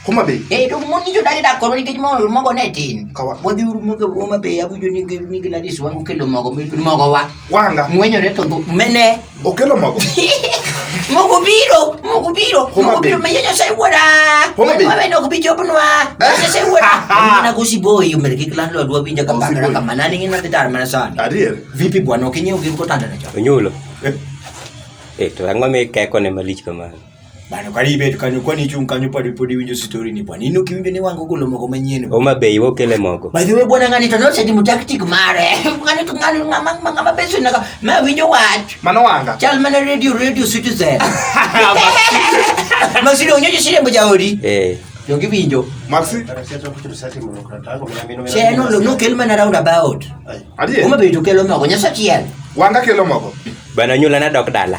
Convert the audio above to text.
Homa Bay. Eh, to mon nyicho dagi dak koro nikech mo mogo ne tin. Kawa. Wadhi uru mogo Homa Bay abujo ni gi ni Gladys wangu kelo mogo mi mogo wa. Wanga. Mwenyo reto go mene. Okelo mogo. Mogo biro, mogo biro, mogo biro me nyonya sai wora. Homa Bay. Mama no kubicho bunwa. Nyonya sai wora. Mwana kusi boy yo mergi klan lo dwa binja kamba kara kama nani ngina titar mana sana. Adier. Vipi bwana ukinyo ukinyo kotanda na cho. Onyulo. Eh. Eh, to ang'o mi keko ne malich kamano? Bana kwa libe tukanyo kwa ni chung kanyo podi podi winjo story ni bwana. Nino kiwinjo ni wangu kulo moko manyien. Oma bei wo kele moko. By the way bwana ngani to nose dimu tactic mare. Ngani to ngani ngama ngama beso naka ma winjo wat. Mano wanga. Chal mana radio radio citizen. Masiri onyeje sire mboja ori. Eh. Yo kiwinjo. Maxi. Cheno lo no kelma na round about. Adiye. Oma bei to kelo moko nyasa chiel. Wanga kelo moko. Bana nyula na dok dala.